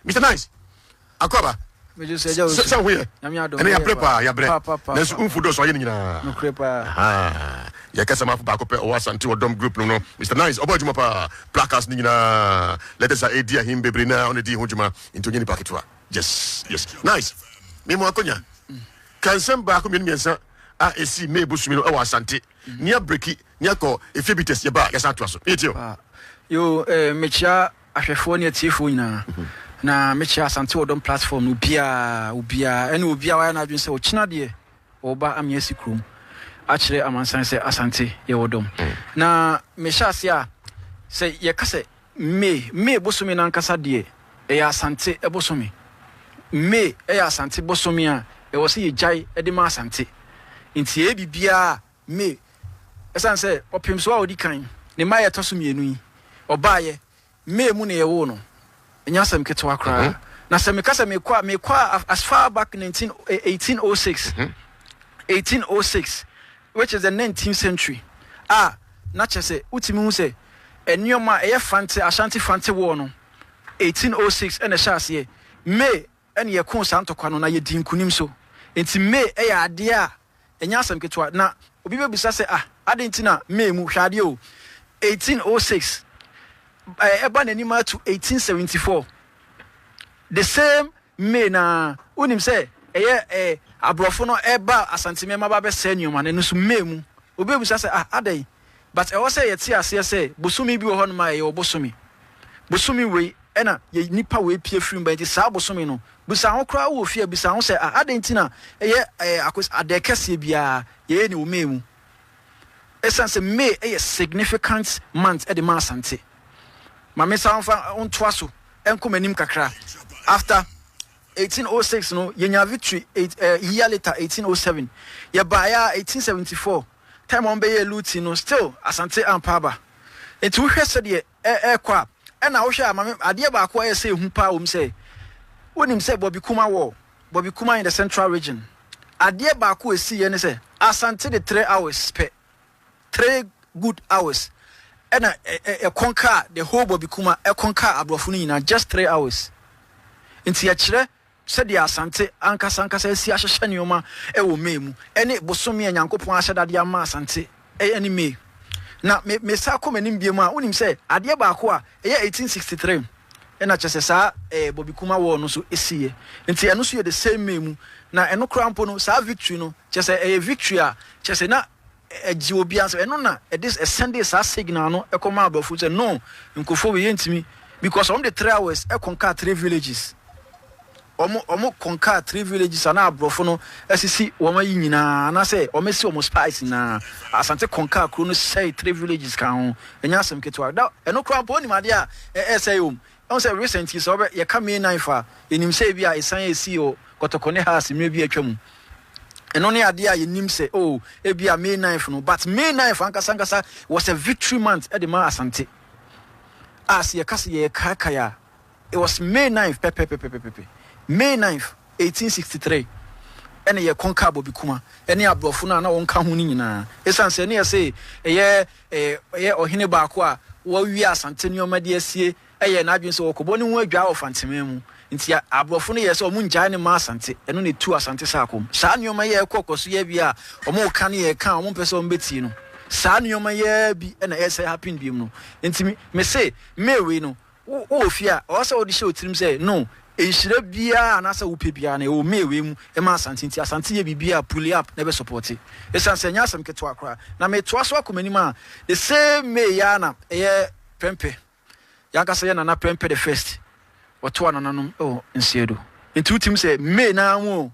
Mister Nice, Akoraba, sɛ wo ho yɛ, ɛnɛ yɛabrɛ paa, yɛabrɛ, nanso womfo dɔɔso ayɛ no nyinaa. Yɛka sɛ mafo baako pɛ ɔwɔ Asante wɔ dɔm group no no, Mister Nice, ɔbɔ adwuma paa, placards no nyinaa, letters a ɛdi ahim bebree no a ɔna di ho dwuma, nti ɔnyɛ nipa ketewa. Yes, yes. Nice, me mo akonya, ka nsɛm baako mmienu mmiɛnsa a ɛsii May bosome no wɔ Asante, ne abreki, ne akɔ efie bites, yɛba a yɛsan atoa so. Yɛtie o. Yo, eh, mekyia Ahwɛfoɔ ne atiefoɔ nyinaa, na mekyerɛ Asante Odom platform no obiara, obiara, ɛne obiara wayɛ n'adwene sɛ ɔkyena deɛ ɔba ame asi kurom akyerɛ amansan sɛ Asante yɛ Odom. Na mehyɛ ase a, sɛ yɛka sɛ May, May bosome no ankasa deɛ ɛyɛ Asante bosome. May ɛyɛ Asante bosome a ɛwɔ sɛ yɛgyae de ma Asante. Nti yɛyɛ biribiara a May, Esiane sɛ ɔpem so a odi kan, ne mma a ɛtɔ so mmienu yi, ɔbaeɛ May mu na yɛwoo no, ɛnyɛ asɛm ketewa koraa. Na sɛ meka sɛ mekɔ a, mekɔ a as far back 19, 1806, 1806, which is the 19th century, a na kyerɛ sɛ wotumi hu sɛ nneɛma a ɛyɛ Fante, Ashanti Fante War no, 1806 ɛna ɛhyɛ aseɛ. May na yɛkoo saa ntɔkwa no na yɛdii nkunim so. Enti May yɛ adeɛ a ɛnyɛ asɛm ketewa. Na obi bɛbisa sɛ, ah, adɛn nti na May mu? Hwɛ adeɛ o, 1806 ɛba n'anim ara to 1874, the same May no ara. Wonim sɛ ɛyɛ eh, aborɔfo no ɛba Asante Mmeema ba bɛsɛe nneɛma no, ɛno nso May mu. Obi bɛbisa sɛ, ah, adɛn? but ɛwɔ sɛ yɛte aseɛ sɛ bosome bi wɔ hɔnom a ɛyɛ wo bosome. Bosome wei ɛna yɛ nnipa wei pie firi mu ba nti saa bosome no bisa ho koraa wowɔ fie a bisa ho sɛ ah adɛn nti na ɛyɛ eh, akos, adɛɛ kɛseɛ biara yɛyɛ ne wɔ May mu. Ɛsiane sɛ May ɛyɛ significant month ɛde ma Asante. Ma me san fa ntoa so ɛnkɔ m'anim kakra. After 1806 no yɛnya victory eight, eh, year later 1807 yɛbaeɛ a 1874 time a wɔn bɛyɛɛ looting no still Asante ampa aba nti wohwɛ sɛdeɛ ɛ ɛrekɔ a ɛna wohwɛ a mame adeɛ baako a ɛyɛ sɛ ehu paa wɔm sɛ wonim sɛ Bɔbi Kuma wɔ Bɔbi Kuma in the central region adeɛ baako a ɛsiiɛ ne sɛ Asante de three hours pɛ three good hours ɛna ɛ ɛ ɛkɔn kaa the whole Bɔbi Kuma ɛkɔn kaa aborɔfo no nyinaa just three hours nti ɛkyerɛ Sɛdeɛ Asante ankasa ankasa asi ahyehyɛ nneɛma wɔ May mu, ɛne bosome a Nyankopɔn ahyɛ da de ama Asante ne May. Na me mesan kɔ m'anim biom a, wonim sɛ adeɛ baako a ɛyɛ 1863 na kyerɛ sɛ saa eh, Bobby Kuma War no so siiɛ. Nti ɛno nso yɛ the same May mu. Na ɛno koraa mpo no, saa victory no, kyerɛ sɛ ɛyɛ victory a kyerɛ sɛ na Ɛgye obiara sɛ ɛno na ɛde ɛsɛndee saa signal no kɔmaa aborɔfo no sɛ no nkurɔfoɔ wei yɛntumi because wɔn de three hours kɔnkaa three villages wɔn wɔn kɔnkaa three villages a na aborɔfo no asisi wɔn ayi nyinaa anaasɛ wɔn asi wɔn spies nyinaa asante kɔnkaa kuro no sɛe three villages kan ho ɛnyɛ asɛm ketewa da ɛno koraa mpo onim adeɛ a ɛsɛe wɔn Ɛwom sɛ recent yi, sɛ wɔbɛ, yɛka May ninth a, yɛnim sɛ ebia asiane a esii wɔ Kɔtɔkɔ ne Haase mmerɛ bi a atwa mu, ɛno ne adeɛ a yɛnim sɛ, oh, ebia May ninth no, but May ninth ankasa ankasa was a victory month de maa Asante. A sɛ yɛka sɛ yɛrekaekae a, it was May ninth pɛpɛpɛpɛpɛpɛ, May ninth, eighteen sixty three, ɛna yɛconquer Bɔbikuma ne aborɔfo no a na wɔka ho no nyinaa. Esiane sɛ ne yɛse ɛyɛ. Ɔyɛ ɔhene baako a wawie Asante nneɛma de asie, yɛɛ n'adwene sɛ ɔrekɔbɔ ne ho adwaa wɔ Fanteman mu. Enti aborɔfo no yɛɛ sɛ wɔrennyae no mma Asante. Ɛno na etuu Asante saa kɔm. Saa nneɛma yi a ɛrekɔ kɔ so yi awie a, wɔreka ne yɛn ka a wɔmpɛ sɛ wɔbetie no. Saa nneɛma yi ara bi na ɛsɛe Hapin biem no. Enti mese, May wei no, Wo wɔ fie a, ɛwɔ sɛ wode hyɛ wo tirim sɛ, No, nhyira biara anaasɛ wopɛ biara no, ɛwɔ May wei mu ma Asante nti Asante yɛ biribi a pull up na ɛbɛsɔpɔte. Ɛsiane sɛ ɛnyɛ asɛm ketewa koraa, na metoa so akɔ m'anim a, the same May yi ara na ɛyɛ Prɛmpɛ, yɛn ankasa yɛn Nana Prɛmpɛ the First, wɔtoa nananom wɔ Nseadu. Nti wotim sɛ May no ara mu o,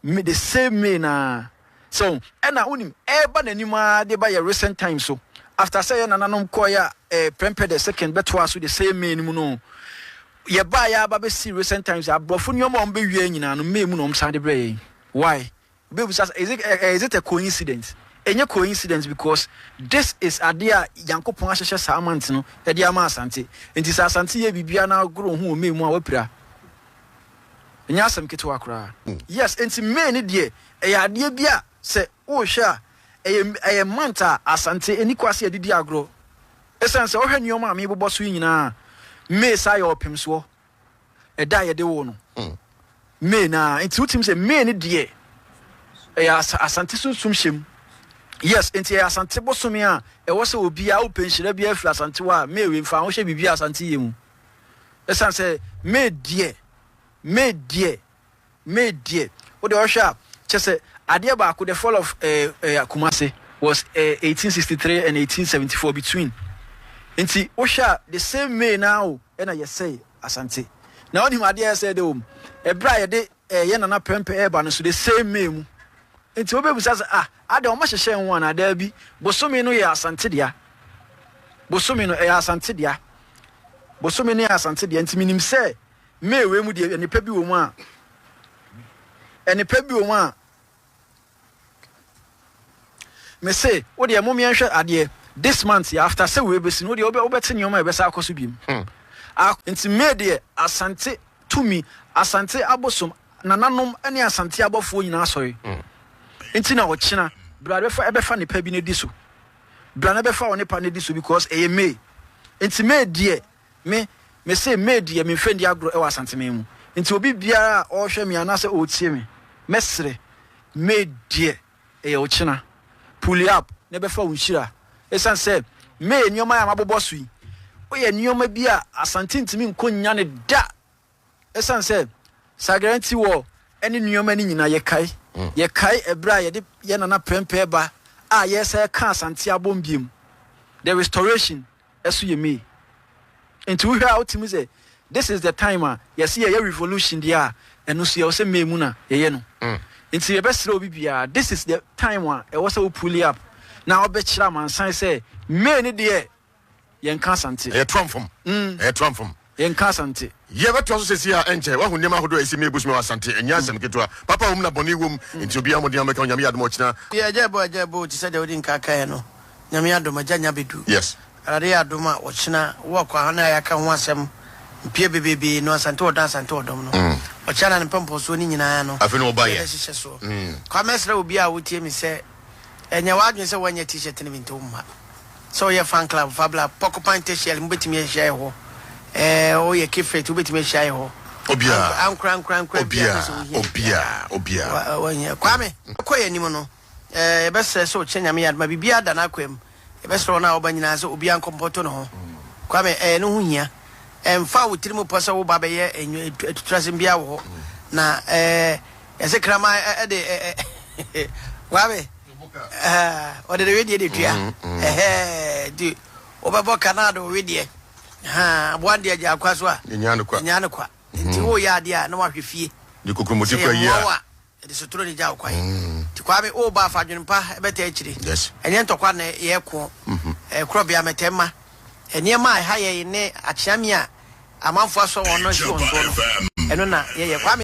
me the same way naa sɛ wo ɛna wonim ɛba n'anim aa de ba yɛ recent time so after sɛ yɛ nananom kɔɔ yɛ eh, prɛmpɛ the second bɛtoa so the same may no mu no yɛ baa yɛ aba bɛsi recent times aborɔfo nneɛma a wɔn bɛwia nyinaa no may mu na wɔn san de brɛ yɛn why wobɛbusa is it, eh, eh, is it a coincidence ɛnyɛ coincidence because this is adeɛ a nyankopɔn ahyehyɛ saa month no de ama asante nti sɛ asante yɛ biribiara na agoro ho wɔ may mu a wapira Ɛnyɛ asɛm ketewa koraa. Yes, enti May no deɛ, ɛyɛ adeɛ bi a sɛ worehwɛ a, ɛyɛ ɛyɛ month a Asante nni kwa sɛ yɛde di agorɔ. Ɛsiane sɛ wohwɛ nneɛma a mebobɔ so yi nyinaa a, May san yɛ ɔpemsoɔ, ɛda a yɛde woo no. May no ara nti wotim sɛ May no deɛ, ɛyɛ As Asante sunsum hyɛ mu. Yes, enti ɛyɛ Asante bosome a ɛwɔ sɛ obiara wopɛ nhyira biara firi Asante hɔ a, May wei fa ho hyɛ biribi a Asante yɛ mu. Ɛsiane sɛ me deɛ, me deɛ, me deɛ. Wo deɛ ɔhwɛ a, kyɛ sɛ adeɛ baako, the fall of eh, eh, Kumasi was eh, 1863 and 1874 between. Nti wohwɛ a, the same May naa o, ɛna yɛsɛe Asante. Na wonim adeɛ a ɛsɛe de wɔ mu? Ɛberɛ a yɛde Ɛyɛ Nana Prɛmpɛ ɛreba no so the same May mu. Nti wobɛbisa sɛ ah adɛn ɔma hyehyɛɛ ho anaa? Daabi, bosome no yɛ Asante dea. Bosome no ɛyɛ Asante dea. Bosome no yɛ Asante dea nti menim sɛ May wei mu deɛ ɛnepa bi wɔ mu a ɛnepa bi wɔ mu a Me se wo deɛ mom yɛnhwɛ adeɛ this month yɛ after sɛ wei bɛsi no wo deɛ wobɛ wobɛte nneɛma a ɛbɛsa akɔ so biom hmm. a nti May deɛ asante tumi asante abosom nananom ne asante abɔfoɔ nyinaa sɔre hmm. nti na ɔkyena bra bɛfa ɛbɛfa nipa bi no di so bra no bɛfa wo nipa no di so because ɛyɛ May nti May deɛ Me, mese Maid yɛ me mfɛndi agorɔ wɔ Asanteman mu, nti obi biara a ɔɔhwɛ me anaasɛ ɔɔtie me, mɛsrɛ, Maid deɛ ɛyɛ wo kyena, pull up na ɛbɛfa wo nhyira. Ɛsiane sɛ meyɛ nneɛma yi a mabobɔ so yi, woyɛ nneɛma bi a Asante ntumi nkɔ nnya no da. Esiane sɛ Sagra nti wɔ ɛne nneɛma no nyinaa yɛkae. Yɛkae ɛberɛ a yɛde yɛn nana Prempeh ba a yɛresa ɛka Asante abom biom, The Restoration, ɛso yɛ May. Nti wohwɛ a wotumi sɛ this is the time a yɛse yɛyɛ revolution deɛ a ɛno nso yɛwɔ sɛ May mu na yɛyɛ no. Nti yɛbɛsrɛ obi biara this is the time a ɛwɔ sɛ wo pull up na wobɛkyerɛ amansan sɛ May no deɛ Yɛnka Asante. Ɛyɛ Tram fam. Ɛyɛ Tram fam. Yɛnka Asante. Yɛbɛtoa so sɛsi a ɛnkyɛ. Wahu nneɛma ahodoɔ a ɛsi nnɛ yɛbusua wɔ Asante. Ɛnyɛ asɛm ketewa. Papa wɔ mu na bɔne wɔ mu. Enti obiara mmɔden a mobɛka no, Nyame yɛ adom a ɔkyena. Yɛ agya ɛbɔ agya ɛbɔ o te sɛ deɛ wode nka kaeɛ no. Nyame adom agya nya bɛdu. Yes. Awurade yɛ adom a ɔkyena wo akwaha no a yɛaka ho asɛm mpie bebeebee no Asante ɔdɔ Asante ɔdɔm no ɔkyena na ne mpɔmpɔsoɔ no nyinaa no Afei na ɔba yɛ. yɛbɛhyehyɛ soɔ. Kwa mɛsrɛ obiara a wotie me sɛ ɛnyɛ w'adwene sɛ woanyɛ T-shirt no bi nti womma. Sɛ woyɛ Fan Club, Fabla, Porcupine Tertiary, mobɛtumi ahyia yɛ hɔ. Ɛɛ, woyɛ Kifrit, wobɛtumi ahyia yɛ hɔ. Obiara, Ank, ankora, ankora, ankora biara obiara, pɛ sɛ wohia yɛ biara. obiara, obiara. Wa, wa, wohia. Kwame, ɛkɔ yɛn anim no, ɛɛ, yɛbɛsrɛ sɛ ɔkyena Nyame yɛ adom a biribiara da n'akwaa mu. Yɛbɛsrɛ wɔn a wɔba nyinaa sɛ obiara nkɔ mpɔto ne ho. Kwame, ɛɛ, ne ho hia. Ɛmfa wo tirim pɔ sɛ woba abɛyɛ nnwo, atu, atuturasɛm biara wɔ hɔ. Na, ɛɛ, yɛse kraman ɛ, ɛde ɛ, ɛ, Kwame. Ahaa ɔde ne wedeɛ de tua ɛhɛɛ nti wobɛbɔ ka na ade wo wedeɛ ahaa aboa deɛ gyaa kwa so a ɛnyaa no kwa nti woyɛ adeɛ a na wahwɛ fie sɛ yɛ mmoa wo a ɛde sotoro ne gya wo kwan nti Kwame woba a fa adwenempa bɛta akyire ɛnyɛ ntɔkwa na yɛko korɔbea mɛtɛ ma nneɛma a ɛha yɛn ne akyeame a amanfoɔ asɔ wɔn no nso wɔn soɔ no ɛno na yɛyɛ Kwame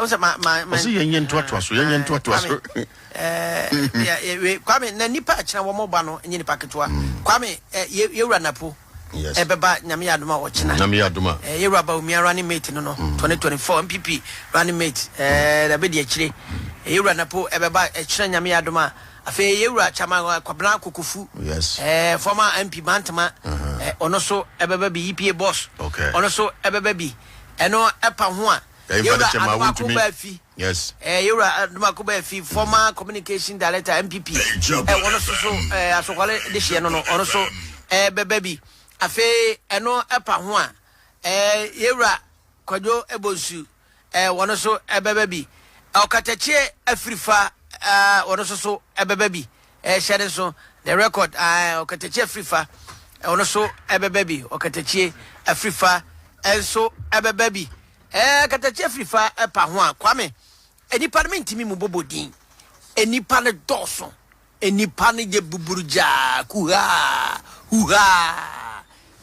Ɔse yɛnyɛ ntoatoa so yɛnyɛ ntoatoa so. Kwame na nipa akyina wɔn ba no nye nipa ketewa mm. Kwame yɛwura napo ɛbɛba nyame yɛ adoma ɔkyena nyame yɛ adoma yɛwura ba omia running mate no no 2024 mpp running mate ɛɛ bɛdi akyire yɛwura napo ɛbɛba ɛkyerɛ nyame yɛ adoma afei yɛwura kyama kwabena kokofu ɛɛ former mp bantama ɔno so ɛbɛba bi epa boss ɔno so ɛbɛba bi ɛno ɛpa ho a Yewura Adomakoh Baafi, ɛɛ Yewura Adomakoh Baafi, former communication director NPP, ɛɛ wɔn nso so ɛɛ asɔkwale de hyɛ no no, ɔno nso ɛɛ bɛbɛ bi. Afei ɛno ɛpa ho a, ɛɛ Yewura Kwadwo Ebonsu, ɛɛ wɔn nso ɛbɛbɛ bi. Ɔkatakyie Afirifa, ɛɛ wɔn nso so ɛbɛbɛ bi. Hyɛ no nso, the record, ae, ɔkatakyie afirifa, ɔno nso ɛbɛba bi, ɔkatakyie afirifa nso ɛbɛba bi. Ɛɛ, katakyie afirifa ɛpa ho a, Kwame, nnipa no mentumi mu bɔbɔ din. Nnipa no dɔɔso, nnipa no yɛ buburugyaa, kuhaa, huhaa.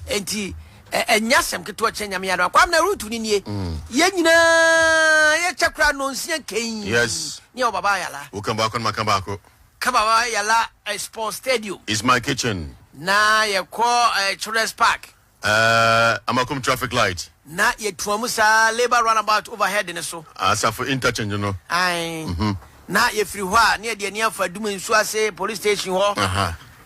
Enti, ɛnyɛ asɛm ketewa kyɛ nyame adom. Kwame na rutu no nie. Mm. Yɛn nyinaa yɛkyɛ koraa nonsia nkɛn. Yes. Ne ɛwɔ baba ayala. Woka baako no maka baako. Ka baba yala eh, sport stadium. Is my kitchen. Na yɛ kɔ eh, children's park. Eh, amakum traffic light. Na yɛ tua mu saa labour runabout overhead no so. Asafo interchange no. Ae. Mm-hmm. Na yɛ firi hɔ a, na yɛ de ani afa Dumɛ nsuo ase police station hɔ. Aha.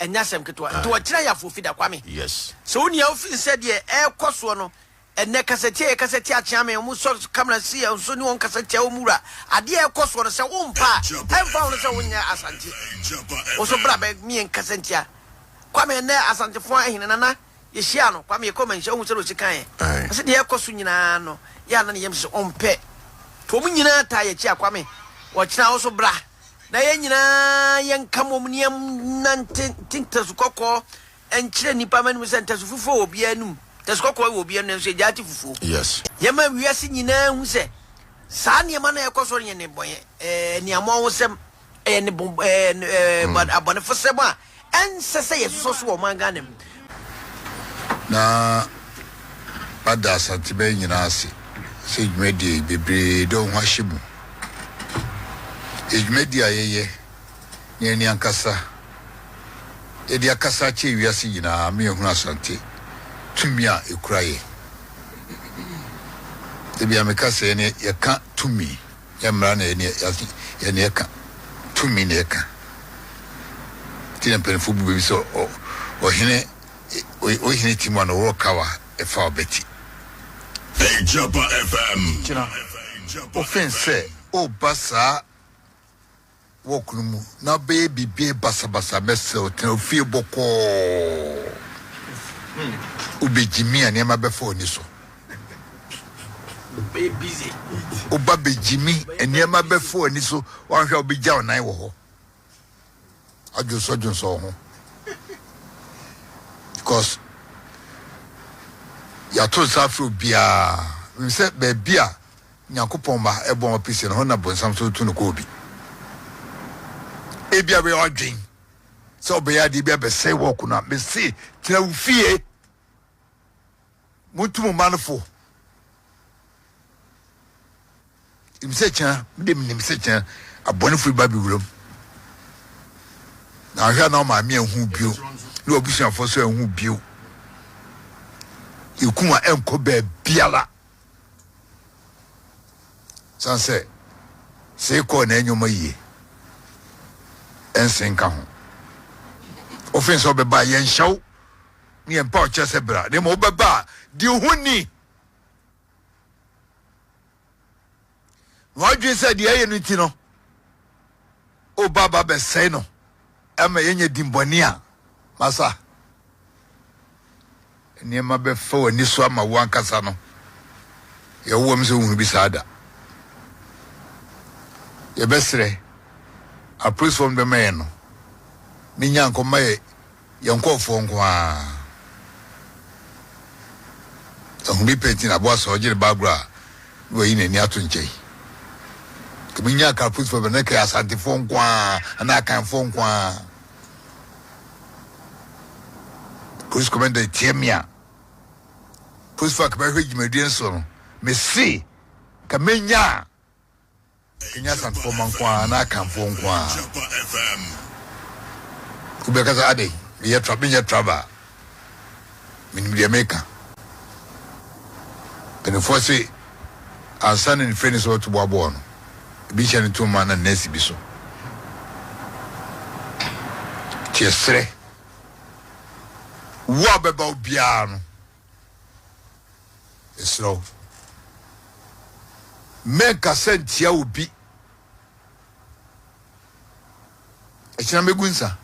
Ɛnyɛ asɛm ketewa. Nti wɔkyerɛ yɛ afoofida, Kwame. Sɛ wonni ahofi sɛ deɛ ɛrekɔ soɔ no, ɛnnɛ kasatia yɛ kasa tia Akyeame, wɔsɔ camera si yɛn so ne wɔn kasa tia wɔn wura. Adeɛ a ɛrekɔ soɔ no, sɛ wompa a, ɛmfa ho no sɛ wonyɛ Asante. Wo nso bra bɛ me yɛn kasa ntia Kwame, ɛnnɛ Asantefoɔ ahene, Nana. yɛhyiaa no, Kwame, yɛkɔɔ Manhyia, ohuu sɛdeɛ ɔsi kaeɛ, na sɛdeɛ ɛrekɔ so nyinaa no, yɛ a na ne yam hyɛ sɛ ɔmpɛ. Nti wɔn nyinaa taa yɛakyi a, Kwame, wɔkyena wo so bra, na yɛn nyinaa yɛnka mmom na yɛnnante nte ntasu kɔkɔɔ nkyerɛ nnipa mma anim sɛ ntasu fufuo wɔ obiara anim, ntasu kɔkɔɔ wɔ obiara anim, nanso yɛgyae te fufuo. Yɛma wiase nyinaa hu sɛ saa nneɛma no a ɛrekɔ so no yɛ nnebɔne, aniammɔnhosɛm. Ɛyɛ ne bɔn ɛɛ ɛɛ bɔn abɔnefosɛm a ɛnsɛ sɛ yɛsosɔ so wɔ ɔman Ghana mu. Na mada Asanteman nyinaa ase sɛ dwumadie yi bebree de wɔn ho ahyɛ mu. Ɛyɛ dwumadie a yɛyɛ na yɛn ankasa yɛde akasa akyerɛ wiase nyinaa ama yɛahunu Asante tumi a ɛkura yɛn. Ebia meka sɛ yɛn yɛka tumi. Ɛnyɛ mmara na ɛyɛ nea ɛka, tumi na ɛka. Enti na mpanyimfo bu bɛ bi sɛ ɔhene ɔyɛ hene ti mu a na ɔwɔ kaw a ɛfa ɔbɛ ti. Gyina ofin sɛ ɔreba saa. wɔ kunu mu na ɔbɛyɛ biribiara basabasa mɛsrɛw tena ofie bɔkɔɔ wobegye me a nneɛma bɛfa w'ani so woba begye me nneɛma bɛfa w'ani so wanhwɛ a wobegya wo nan wɔ hɔ adwonsɔdwonsɔ wo ho because yɛato nsa afrɛ obiara sɛ baabi a Nyankopɔn ma ɛbɔn ɔpe sɛ ne ho na bonsam so retu no kɔ obi. Ebia bɛyɛ ɔdwen sɛ ɔbɛyɛ adeɛ bi abɛsɛe wɔɔko no a, mese tena wo fie. Montu mo mma no fo. Nim sɛ kyena, mede menim sɛ kyena abɔnefo ba bi wuram. Na ahwɛ a na ɔmaame anhu bio, ne wabusuafoɔ so anhu bio. Yɛkuma ɛnkɔ baabiara. San sɛ, sɛ ekɔɔ na nneɛma yie ɛnsen nka ho. Ofin sɛ ɔbɛba yɛn nhyɛw ne yɛn mpa ɔkyɛ sɛ bra na mmom wobɛba a di ho ni. na wadwene sɛ deɛ ɛyɛ no nti no woba ba bɛsɛe no ɛma yɛnya dimbɔne a masa nneɛma bɛfa w'ani so ama wo ankasa no yɛwowam sɛ wohunu bi saa da yɛbɛserɛ apolisifoɔ no bɛma yɛn no ne nyankɔ ma yɛ Yɛn nkurɔfoɔ nko ara ahu bi pɛ nti na aboa sɛ ɔgye ne ba agorɔ a na wayi n'ani ato nkyɛn. Ebi nya Karpusfoɔ bɛ na ɛka Asantefoɔ nko ara anaa Akanfoɔ nko ara. Police commander etia me a police fa ka bɛhwɛ dwumadie nso no mese ka menya Ɛnyɛ Asantefo mma nko ara anaa Akanfoɔ nko ara. Obi bɛka sɛ, Adɛn? Meyɛ tra, menyɛ traba. Menim deɛ meka. Mpanimfoɔ se, ansa na nifirani sɛ ɔreto boabɔɔ no, ebi hyɛ no to ma na nɛɛse bi so. Nti yɛsrɛ, wu a ɔbɛba wo biara no, Mesrɛ wo, mɛnkasa ntia obi. Akyina mɛgu nsa.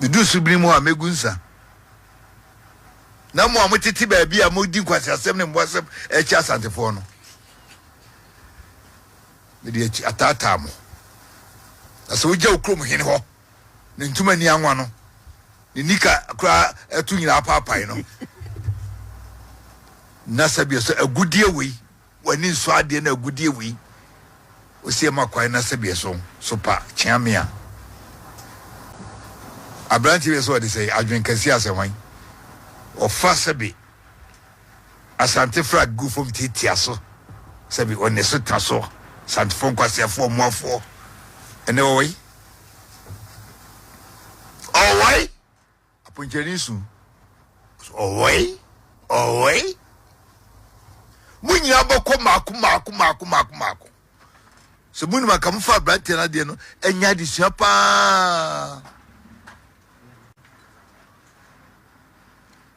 Medu subiri mu a, mɛgu nsa. Na mo a motete baabi a modi nkwaseasɛm ne mmoasɛm akyi Asantefoɔ no, mede akyi ataataa mo. Na sɛ wogya wo kurom hene hɔ. ne ntoma ani anwa no, ne nika koraa ɛto nyinaa apaapae no. Na sɛbea so agudeɛ wei, w'ani nsɔ adeɛ na agudeɛ wei, ɔsi ɛma kwan na sɛbea so so pa kyea me a. Aberanteɛ bi sɛ ɔde sɛ adwene kɛseɛ asɛ hwan ɔfa sɛbe asante fra gu fam tiatia so sɛbe ɔne so ta so santefoɔ nkwaseafoɔ mmoafoɔ ɛnɛ wɔwɔ yi Ɔwɔe! Aponkyerɛni su. Ɔwɔe! Ɔwɔe! Mo nyinaa bɛkɔ mako mako mako mako mako. Sɛ mo nim anka mo fa aberanteɛ no adeɛ no ɛnyɛ adesua paa.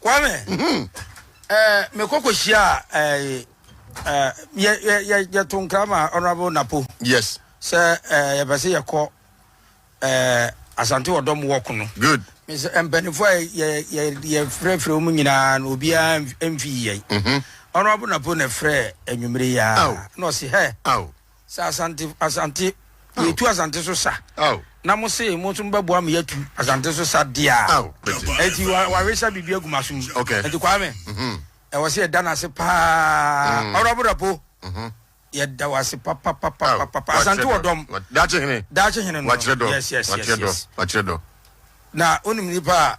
Kwame, eh, me koko shia, eh, eh, ye, ye, ye, ye to nkrama honorable Napo. Yes. Sɛ, eh, ye bɛse ye kɔ, eh, asante ɔdɔm walk no. Good. Me sɛ, mpanifo a ye, ye, ye frɛ frɛ mu nyinaa no, obiara mfi yɛn. Mm-hmm. Honorable Napo na frɛ anwummere ya. Oh. Na ɔse, hɛ. Oh. Sɛ Asante Asante yɛtu Asante so sa na mo se mo nso mo bɛboa me yɛatu Asante so sa deɛ a ɛnti wawesa biribi agu m'aso mu ɛnti Kwame ɛwɔ sɛ yɛda no ase paa ɔrɔbo rapo yɛda wo ase papapapapapa Asante wɔ dɔm daakye hene daakye hene no yes yes yes yes na wonim nipa a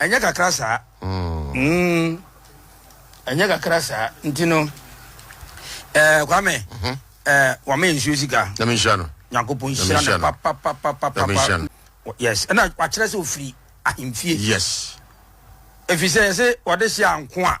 Ɛnyɛ kakra saa. Mm, ɛnyɛ kakra saa. Nti no, ɛɛ eh, Kwame, mhm. ɛɛ eh, wama yɛn nsuo sika. Na mi nhyira no. Nyankopɔn nhyira no papapapapa. Na mi nhyira no. Yes, ɛna wakyerɛ sɛ ofiri ahemfie. Yes. Efisɛ yɛsɛ wɔde hyɛ anko a.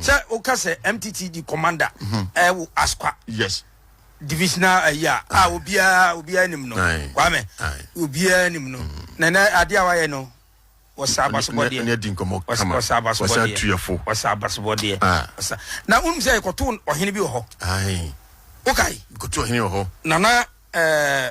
sɛ woka sɛ mtt di commander ɛwo eh, askwa yes divisional ayi eh, a a obiara obiara nim no kwame obiara nim no mm. na na ade a wayɛ no wɔsa abasobɔdeɛ ne adi nkɔmɔ kama wɔsa abasobɔdeɛ wɔsa abasobɔdeɛ wɔsa na wonim sɛ ɛkɔto ɔhene bi wɔ hɔ wokae ɛkɔto ɔhene wɔ hɔ nana ɛɛ eh,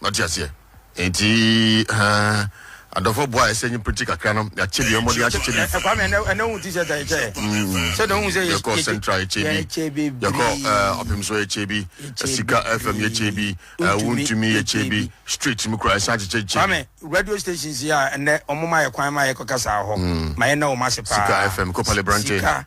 na ɔte aseɛ nti ɛɛ adɔfo boa ɛsɛ nye pɛti kakra no yɛakyɛ bi ɛmɔ de akyekyɛ bi. ɛkɔ amɛ ɛnɛ ɛnɛ ohun ti sɛ ta ɛkyɛ sɛ na ohun sɛ yɛ yɛkɔ central ɛkyɛ bi yɛkɔ ɔpem so ɛkyɛ bi sika fm yɛkyɛ bi wuntumi yɛkyɛ bi street mu kura ɛsan akyekyɛ kyɛ bi. radio stations yɛ a ɛnɛ ɔmo ma yɛ kwan ma yɛ kɔ kasa hɔ ma yɛ na ɔmo ase paa sika fm kɔ pale brante sika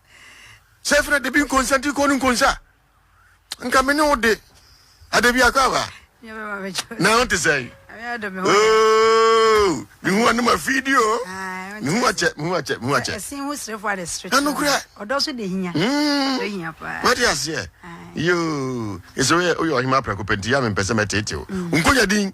Sɛ fena debi nkonsa nti kɔ no nkonsa nka me ne wo de ada bi akɔ aba na ho te sɛn oh, ne ho anom afiidi o ne ho akyɛ me ho akyɛ me ho akyɛ ɛsen ho serefo ade serefo ɛno kura ɔdɔ so de hinya hmm. de hinya paa wate aseɛ yoo ɛsɛ woyɛ woyɛ ɔhema prɛko pɛ nti yɛ a mempɛ sɛ mɛteetew hmm. nkonya din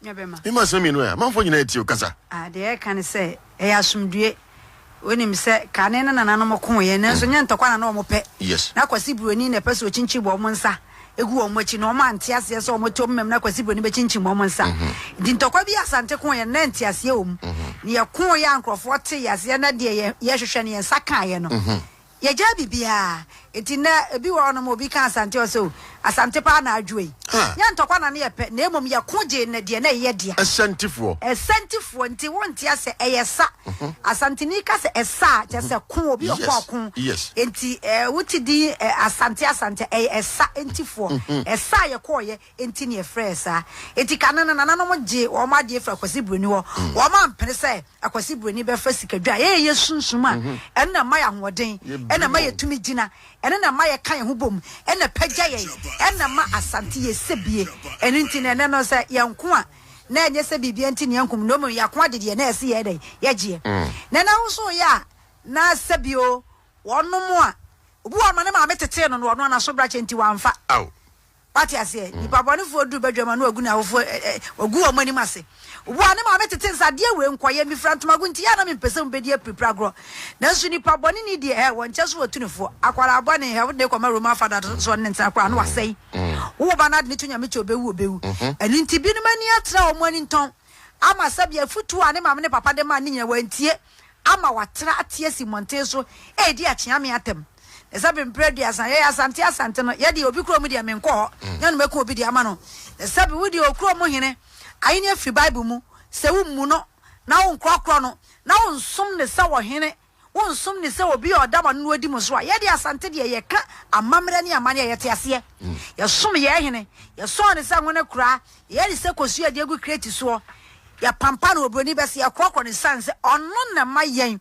Me ma sɛ mmienu ɛ, amanfoɔ nyinaa atie wo kasa. Ah, deɛ ɛka ne sɛ, ɛyɛ asomdue. Wonim sɛ kane na nananom ko yɛ, nanso mm. nyɛ ntɔkwa na na wɔn pɛ. Yes. Na kwasi buroni na ɛpɛ sɛ ɔkyinkyim wɔn nsa egu wɔn akyi na wɔn ante aseɛ sɛ wɔn tom mɛm na kwasi buroni bɛkyinkyim wɔn nsa. Mm-hmm. Nti ntɔkwa bi asante ko yɛ na nte aseɛ wɔm. Mm-hmm. Ne yɛ ko yɛ nkurɔfoɔ te yɛ aseɛ na deɛ yɛhwehwɛ no yɛn nsa kaa yɛ no. Mm-hmm. Yɛgyaa biribiara. Enti nnɛ, ebi wɔ hɔnom a obi ka Asante a, ɔse, Oh, Asante paa na adwo yi. Nyɛ ntɔkwa na ne yɛpɛ, na mmom yɛko gyee nnɛ deɛ na ɛyɛ dea. Asantefoɔ. Asantefoɔ, nti wonte asɛ, ɛyɛ sa. Asanteni ka sɛ ɛsa a, kyerɛ sɛ ko, obi a ɔkɔ ɔko. Enti wote din Asante Asante a, ɛyɛ ɛsa, Ntifoɔ. Ɛsa a yɛkɔeɛ, Enti na yɛfrɛɛ saa. Enti kane no nananom gyee wɔn adeɛ firi Akwasi Buroni hɔ. Wɔn ampene sɛ Akwasi Buroni bɛfa sikadwa a ɛyɛ yɛ sunsum a ɛno na ɛma yɛ ahoɔden, ɛno na ɛma yɛtumi gyina, ɛno na ɛma yɛka yɛn ho bom, ɛno na ɛpagya yɛn, ɛno na ɛma Asante yɛ sɛbie. Ɛno nti na ɛnnɛ no sɛ yɛnko a, na ɛnyɛ sɛ biribiara nti na yɛnko na mmom yɛako ade deɛ na ɛse yɛyɛ dɛn? Yɛgyeɛ. Na ɛnnɛ wo nso woyɛ a, na sɛbi o, wɔnom a, obi wɔ hɔ a, ne maame tetee no na ɔno ara n'aso brakyɛ nti wamfa. Wate aseɛ? Nnipa bɔnefoɔ duru badwam a na wɔagu n'awofoɔ, ɛ, ɛ, wɔagu wɔn anim ase. Wo a ne maame tete nsa, adeɛ wei nkɔyɛ, mefira ntomago nti, yɛ a na mempɛ sɛ mobɛdi apirapira agorɔ. Nanso nnipa bɔneni deɛ, ɛ, wɔnkyɛ so wɔtu no foɔ. Akwadaa bɔne, ɛ, wode no kɔma Roman Father so, ɔne no ntena koraa, na wasɛe. Wo wo ba no ade no to Nyame kyɛ ɔbɛwu, ɔbɛwu. Ɛno nti binom ani atra, wɔn ani ntɔn, ama sɛdeɛ afotuo a ne maame ne papa de mae no nyinaa, wɔantie. ama wɔatra ate asi mmɔnten so redi akyeame atɛm. Na sɛ bere mpere aduasa yɛyɛ asante asante no, yɛ deɛ obi kurom deɛ menkɔ hɔ, nyɛ no mɛku obi deɛ ama no. Na sɛ bi wo deɛ okurom hene ahenni afiri Bible mu, sɛ wommu no, na wonkorɔkorɔ no, na wonsom no sɛ ɔhene, wonsom no sɛ obi a ɔda mo ano na ɔdi mo so a, yɛ deɛ asante deɛ yɛka amammerɛ ne amanneɛ a yɛte aseɛ. Yɛsom yɛn hene, yɛsɔɔ no sɛ ngo ne kora, Yɛyɛ ne sɛ kosua a yɛde agu kreti soɔ, yɛpampa no wɔ buroni bɛ so, yɛkorɔkorɔ no sane sɛ ɔno na ɛma yɛn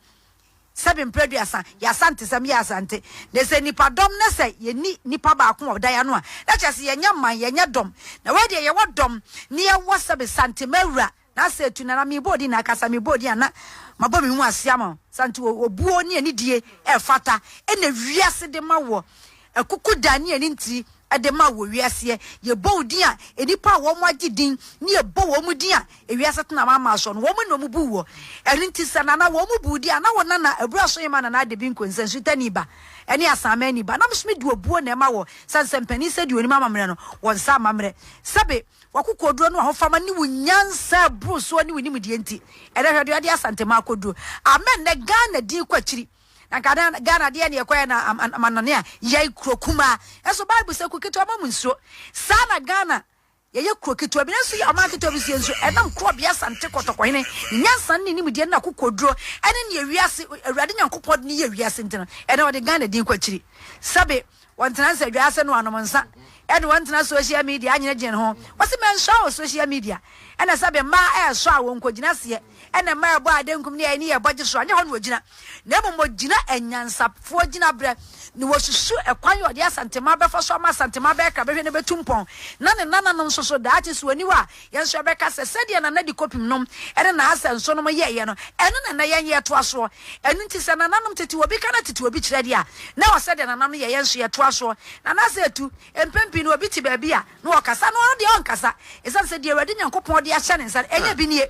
sɛbe mprɛ aduasa, yɛ asantesɛm, yɛ asante. Na sɛ nipa dɔm na sɛ yɛni nipa baako wɔ dan ano a, na kyerɛ sɛ yɛnyɛ man, yɛnyɛ dɔm. Na wei deɛ yɛwɔ dɔm, na yɛwɔ sɛbe sante mawura, na asɛ atu no, na mebɔ odin, na akasa mebɔ odin a, na mabɔ me mu ase ama wo. Sante, obuo ne anidie ɛfata, ɛna wiase de ma woɔ. Akuku da ne ani nti de ma wɔ wiaseɛ. Yɛbɔ wo din a, nnipa a wɔn agye din ne yɛbɔ wɔn din a, ewiase tena wɔn ama soɔ no, wɔn na wɔbu woɔ. Ɛno nti sɛ Nana, wɔn bu wo din a, na wo Nana, Abura Sohima Nana Adebinko Nsɛnsutani ba ne Asaamani ba, na me nso mede obuo na ɛma wɔ, sane sɛ mpanin sɛ deɛ ɔnim amammerɛ no, wɔ nsa amammerɛ. Sɛbe, w'akokoɔduro ne w'ahofama ne wo nyansa a ɛboro soɔ ne wo nimdeɛ nti, ɛnnɛ hwɛ deɛ ɔde Asantema akɔduro. Amen! Nnɛ Ghana din kɔ akyiri. Na Ghana Ghana deɛ neɛ ɛkɔɛ na ama ama nɔne a yɛn kuro kumaa ɛso bible sɛ kuro ketewa ma mu nsuo saa na Ghana yɛyɛ kuro ketewa bi nanso yɛ ɔman ketewa bi so yɛ nsuo ɛnam kuro bea sante kɔtɔkɔhene ne nyansa ne nimdeɛ ne akokoduro ɛne neɛ wiase awurade nyankopɔn de ne yɛ wiase nti no ɛnɛ ɔde Ghana din kɔ akyiri sɛbe Wɔnntena nsadwa ase noanom nsa ɛne wɔnntena social media anyene gyen ho. Wɔse mɛnsoa wɔ social media ɛna sɛbe mmaa ɛɛsɔ a wɔnnkɔgyina seɛ ɛne mmaa ɛɛbɔ adenkum ne ɛɛni ɛɛbɔ gye so a nyɛ hɔ na wɔgyina na mmom wɔgyina anyansafoɔ gyinabrɛ na wɔsusu ɛkwan yɛ ɔde Asantema bɛfa so ama Asantema bɛɛkra bɛhwɛ na bɛtu mpɔn na ne nananom nso so daakye so aniwa a Yɛn nso yɛbɛka sɛ, sɛdeɛ Nana Di Kopim nom ne Nahasa Nso nom yɛeɛ no, ɛno na nnɛ yɛn yɛtoa soɔ. Ɛno nti, sɛ nananom tete obi ka na tete obi kyerɛ deɛ a, na ɛwɔ sɛ deɛ nana no yɛ, yɛn nso yɛtoa soɔ. Nanasa Etu, Mpɛn pii no obi te baabi a, na ɔkasa na ɔno deɛ ɔnkasa, ɛsiane sɛ deɛ Awurade Nyankopɔn de ahyɛ ne nsa no, ɛnyɛ bi nie.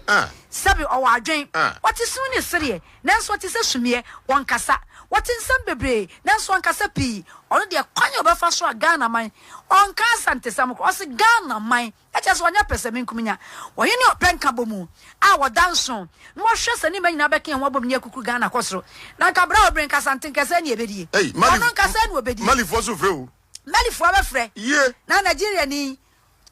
Sɛbe ɔwɔ adwen, ɔte sini ne sereɛ, nanso ɔte sɛ sumiiɛ, ɔnkasa. Ɔte nsɛm bebree, nanso ɔnkasa pii. Ɔno deɛ, kwan a ɔbɛfa so a Ghana man, ɔnka Asantesɛm koraa, ɔse Ghana man. Ɛkyerɛ sɛ ɔnyɛ pɛsɛmenkominya. Wɔye ne ɔpɛ nkabɔmu a wɔda nso na wɔhwɛ sɛ ne mma nyinaa bɛka yɛn ho abom ne akukuru Ghana akɔ soro. Na anka bere a ɔbrɛ nkasa nte nkasa ni ɛbɛdie. Ɔno nkasa ni ɔbɛdie. Malifoɔ nso frɛ o. Malifoɔ bɛfrɛ. Na Nigeria ni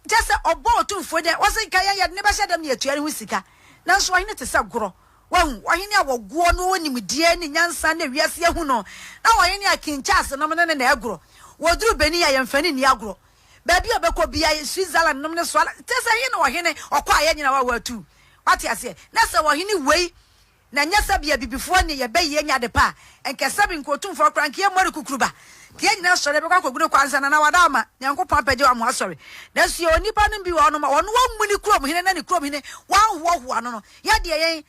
kyɛ sɛ ɔbɔ otumfoɔ dɛ wɔse nka yɛn yɛde ne bɛhyɛ dɛm na yɛtua ne ho sika. Nanso ɔhene te sɛ gorɔ. Wahu? Ɔhene a wɔgoɔ no wɔ nimdeɛ ne nyansa na wiase ahu no. Na ɔhene a King Charles nom no ne na ɛgorɔ. Wɔduru Benin a yɛmfa ani nni agorɔ. Baabi a ɔbɛkɔ biara yɛ Switzerland nom ne soa te sɛ he na ɔhene ɔkɔ a yɛn nyinaa wawa tu. Wate aseɛ? Na sɛ ɔhene wei na ɛnyɛ sɛbe abibifoɔ nne yɛbɛ yi anya ade pa a, nkɛ sɛbe nka otumfoɔ koraa nka yɛn mmɔ ne kukuruba. Nka yɛn nyinaa sɔre bɛkɔ akɔgu ne kwan sana na wada ama Nyankopɔn apɛgye wama wasɔre. Nanso yɛwɔ nnipa nom bi wɔ hɔ nom a wɔn wɔmmuni kurom hene na ne kurom hene wɔanhoahoa no no. Yɛdeɛ yɛn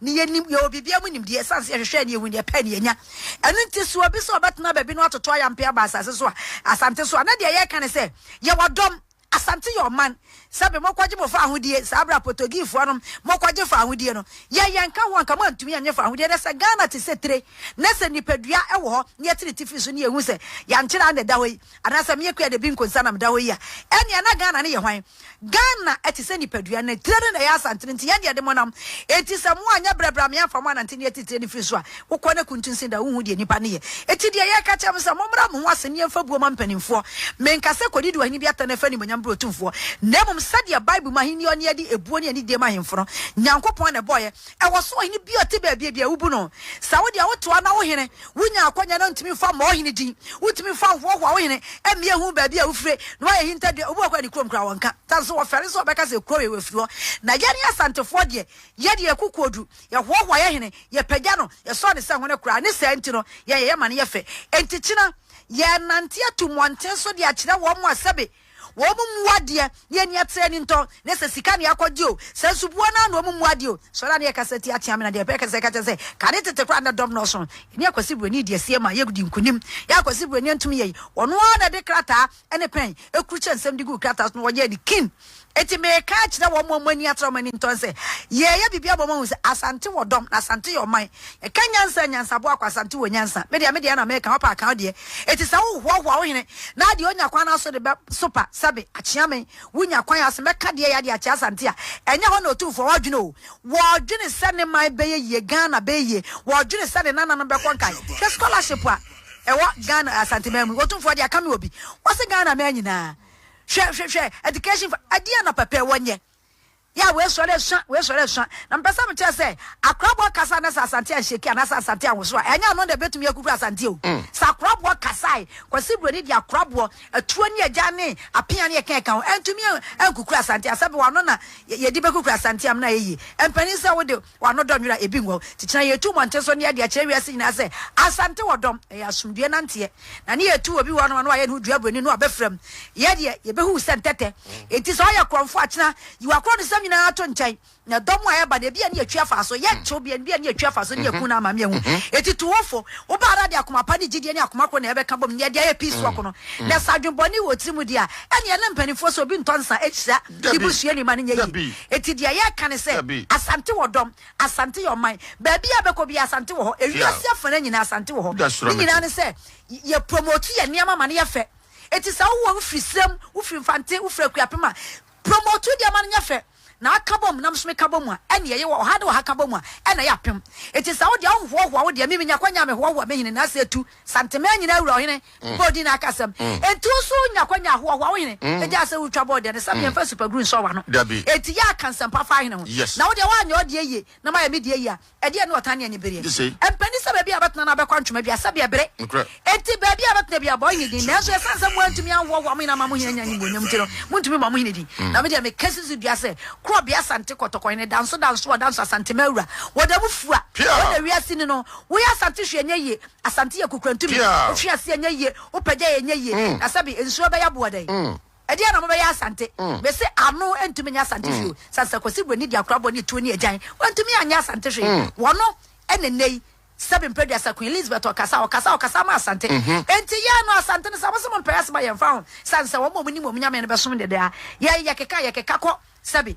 Ne yɛnim, yɛwɔ biribiara mu nimdeɛ, ɛsiane sɛ yɛhwehwɛɛ ne yɛhuu ne yɛpɛɛ ne yɛanya. Ɛno nti so obi sɛ ɔbɛtena baabi na watoto ayampe aba asase so a, Asante so a, na deɛ yɛreka ne sɛ, yɛwɔ dɔm, Asante yɛ ɔman, sɛbe mokɔgye mo faahodie, saa berɛ a Potogiifoɔ nom mokɔgye faahodie no, yɛn yɛnka ho, anka moantumi annye faahodie, na sɛ Ghana te sɛ tire, na sɛ nipadua wɔ hɔ, na yɛte ne tifi so, na yɛhu sɛ yɛankyere a na ɛda hɔ yi. Anaasɛ me Akua Dabi Nkonsa na meda hɔ yi a, ɛnneɛ na Ghana no yɛ hwan? Ghana te sɛ nipadua, ne tire no na ɛyɛ asantene, enti yɛn deɛ de mo nam. Enti sɛ mo anyɛ brɛ bra me amfa mo anante ne atitire no firi so a, wokɔ na kuntunsin da a, wonhu deɛ nnipa no yɛ. Enti deɛ yɛka kyerɛ mo sɛ, mommra mo ho ase ne yɛmfa buo ma mpaninfoɔ. Menka sɛ kɔdi di ɔhene bi atɛne fa animuonyam brɛ otumfoɔ, na mmom sɛdeɛ Bible mu ahennie ɔne adi ebuo ne anidie ma ahemfo no, Nyankopɔn na ɛbɔeɛ, Ɛwɔ so ɔhene bi a ɔte baabiabi a wobu no saa. Wo deɛ wotoa na wo hene, wonya akwanya na ntumi mfa mmɔ wo hene din. Wotumi fa hoahoa wo hene mmea hu baabi a wofire na wayɛ hintadua. Obi wɔ hɔ koraa ne kurom koraa wɔnka. Saa nso wɔfɛre sɛ ɔbɛka sɛ kurow wei wafiri hɔ. Na yɛne Asantefoɔ deɛ, yɛ deɛ yɛko kodu, yɛhoahoa yɛ hene, yɛpagya no, yɛsɔ ne sɛ hone koraa. Ne saa nti no, yɛyɛ yɛ ma no yɛ fɛ. Enti kyena yɛrenante atu mmɔnten so de akyerɛ wɔn a sɛbe Wɔn mu mmoa deɛ, ne ani atere ani ntɔ, ne sɛ sika ne akɔgye o, sɛ nsubuo no ano wɔn mu mmoa deɛ o, sɔre a ne yɛkasa tia tea me na deɛ ɛpɛ kasa ɛka kyerɛ sɛ, kane tete koraa na dɔm nnɔɔso no, yɛne Akwasi Buroni di asie ma yɛdi nkunim. Yɛ Akwasi Buroni antumi yɛ yi, ɔno ara na ɛde krataa ne pɛn kurukyerɛ nsɛm de guu krataa so na wɔyɛɛ no kin. Enti mereka akyerɛ wɔn a wɔn ani atere wɔn ani ntɔ no sɛ, yɛreyɛ biribi ama wɔahu sɛ Asante wɔ dɔm, na Asante yɛ ɔman. Ɛka nyansa a nyansaboa akwansante wɔ nyansa. Me deɛ me deɛ na meka, wopɛ a ka wo deɛ. Enti sɛ wohoahoa wo hene na adeɛ ɔnya kwan no aso de bɛ so pa sɛbe akyea me, wonya kwan ase mɛka deɛ ɛyɛ adeɛ akyea Asante a ɛnyɛ hɔ na Otumfoɔ ɔredwene o. Wɔredwene sɛ ne man bɛyɛ yie, Ghana bɛyɛ yie. Wɔredwene sɛ ne nananom bɛkɔ nkae. Hwɛ scholarship a ɛwɔ Ghana, Asante man mu yi. Otumfoɔ deɛ ɛka me wɔ bi. Wɔse Ghana man nyinaa. Hwɛ, hwɛ, hwɛ, education fa, ɛdeɛn na pɛpɛ wɔnyɛ? Yeah, wei sɔre asua, wei sɔre asua. Na mepɛ sɛ mekyerɛ sɛ, akoraboɔ kasa na sɛ Asante anhyɛki anaasɛ Asante anwoso a, ɛnyɛ ɔno na ɛbɛtumi akukura Asante o. Mm. Sɛ akoraboɔ kasae, Kwasi Buroni de akoraboɔ, atuo ne agyan ne apea ne ɛkɛɛka ho, ɛntumi ankukura Asante. Asɛbe wɔ ano na yɛde bɛkukura Asante amena ɛyɛ yie. Mpanin sɛ wode. W'ano dɔ nwera ebi ngɔ. Kyekyena yɛ tu mmɔnten so ne yɛde akyerɛ wiase nyinaa sɛ Asante wɔ dɔm, ɛyɛ asomdwoeɛ nanteɛ. Na ne yɛ tu obi wɔ hɔnom a na wayɛ ne ho dua buroni no a bɛfra mu. Yɛ deɛ, yɛ bɛhu wo sɛ ntɛtɛ. Enti sɛ woyɛ korɔmfoɔ a kyena yi w'akorɔnsɛm nyinaa to nkyɛn. Na dɔm a ɛreba no ebia ne yɛtwi afa so. Yɛ kyew bia ebia ne yɛtwi afa so ne yɛku no ama me ahu. Enti tu wo fo. Wo baa ara de akoma pa ne gyidie ne akoma koro na yɛbɛka bom ne yɛde ayɛ peace walk no. Na sɛ adwen bɔne wɔ wo tiri mu deɛ a, ɛneɛ ne mpaninfoɔ sɛ obi ntɔ nsa nhyira. Dabi, Ebusua ni ma no nyɛ yie. dabi, Enti deɛ yɛreka ne sɛ, dabi. Asante wɔ dɔm, Asante yɛ ɔman. Baabi a bɛkɔ biara Asante wɔ hɔ. Tia. Ewiase afana nyinaa Asante wɔ hɔ. Da suro Ne me nyinaa te. ne sɛ, y yɛ promote yɛn nneɛma ma no yɛ fɛ. Enti sɛ wowɔ, wofiri Sirem, wofiri Mfante, wofiri Akuapem a, promote wo nneɛma no nyɛ fɛ. Na aka bom na me nso meka bom a, ɛnneɛ yɛ wɔ ɔha ne ɔha ka bom a, ɛnna ɛyɛ apem. Enti sɛ wo deɛ wohohoahoa wo deɛ, me menya kwanya a mehoahoa me hene, na sɛ ɛtu, Santeman nyinaa wura ɔhene. mm. bɔɔ din akasɛm mm. enti wo nso wonya kwanya ahoahoa wo hene mm. ɛgyaa sɛ wotwa bɔɔ deɛ ne sɛ meɛmfa supaguru nsɔ wano enti yɛ aka nsɛmpa fa hene ho na wodeɛ woanyɛ ɔdeɛ yie na mayɛ me deɛ yie a ɛdeɛ ne ɔtan ne anibereɛ ɛmpɛni sɛ baabi a bɛtena no abɛkɔ ntwoma bia sɛdeɛ bere enti baabi a bɛtena bia bɔɔ hene din nanso ɛsiane sɛ moantumi anhoahoa mo hene ama mo hene anya animuonyam nti no montumi ma mo hene din na medeɛ meka sisi dua sɛ korɔ bea asante kɔtɔkɔ hene danso danso ɔdanso asante ma awura wɔda mu fua wɔda wiase ni no woyɛ asante hwɛ nyɛ yie Asante yɛ kokurantumi. Wofi ase a ɛnyɛ yie, wopɛ gya a ɛnyɛ yie. Na sɛbi, nsuo bɛyɛ aboɔ dɛn? Ɛdeɛn na mobɛyɛ Asante? Mese ano ntumi nyɛ Asante hwee o. Sane sɛ Kwasi Buani de akorabɔ ne tuo ne agyan, wantumi anyɛ Asante hwee. Wɔno ne nnɛ yi, sɛbi Mpeduasa, Queen Elizabeth ɔkasa, ɔkasa, ɔkasa ama Asante. Enti yɛn no, Asante no, sɛ wɔse mompɛ yɛasoma, yɛmfa ho. Sane sɛ wɔn a wɔnim wɔn Nyame no bɛsom deɛ daa. Yɛn, yɛkeka, yɛkeka kɔ, sɛbi,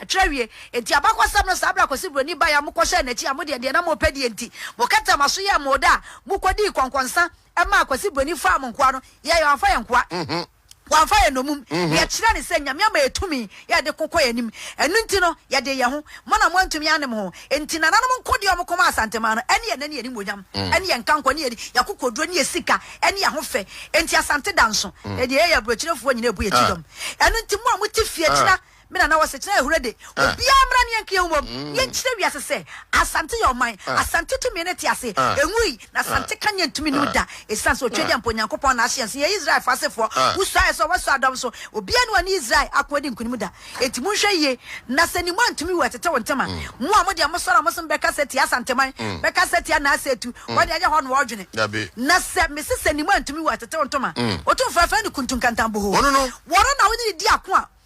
Ɛkyerɛ wie. Enti abakɔsɛm no saa berɛ a Kwasi Buroni baeɛ a mokɔhyɛɛ n'akyi a modeɛ deɛ na mopɛ deɛ nti mokɛtɛɛ mo aso yɛɛ moode a mokɔdii kɔnkɔnsa maa Kwasi Buroni faa mo nkoa no yɛɛ wamfa yɛn nkoa wamfa yɛn nnommum na yɛkyerɛɛ no sɛ Nyame ama yɛn tumi yɛ yɛde ko kɔ yɛn anim ɛno nti no yɛdee yɛn ho mo na moantumi anne mo ho enti nananom nkodeɛ a wɔkɔmaa Asanteman no ɛne yɛn ɛne yɛn animuonyam ɛne yɛn nkankɔ ɛne yɛn yɛakokoduro ɛne yɛn sika ɛne yɛn ahofɛ enti Asante da nso ɛdeɛ yɛyɛ aburokyerefoɔ nyina ɛbu yɛn ti dɔm ɛno nti mo a mote fie akyire na Me nana wɔ sekyerɛ ahuro de. Obiara mmra ne yɛnka yɛn ho mmom na yɛnkyerɛ wiase sɛ Asante yɛ ɔman. Asante tumi no te ase. Ɛnwui. Na Asante ka nyɛ ntumi num da. Ɛsiane sɛ otwadeɛ mpo Onyankopɔn na ahye yɛn so. Yɛyɛ Israelfoɔ asefoɔ. Wosuaeɛ sɛ wɔbɛsɔ adɔm so. Obiara nni hɔ a ɔne Israel ako adi nkonim da. Enti monhwɛ yie. Na sɛ nim wo antumi wo ɛtete wo ntem a. Mo a mode mo sɔre mo som bɛkasa tia Asanteman, bɛkasa tia Naase Atu, wɔde ɛyɛ hɔ na wɔredwene. Na sɛ mese sɛ nim wo antumi wo ɛtete wo ntem a. Otumfoɔ ɛfrɛ no Kuntunkantanbohoo. Wɔno na wone no di ako a.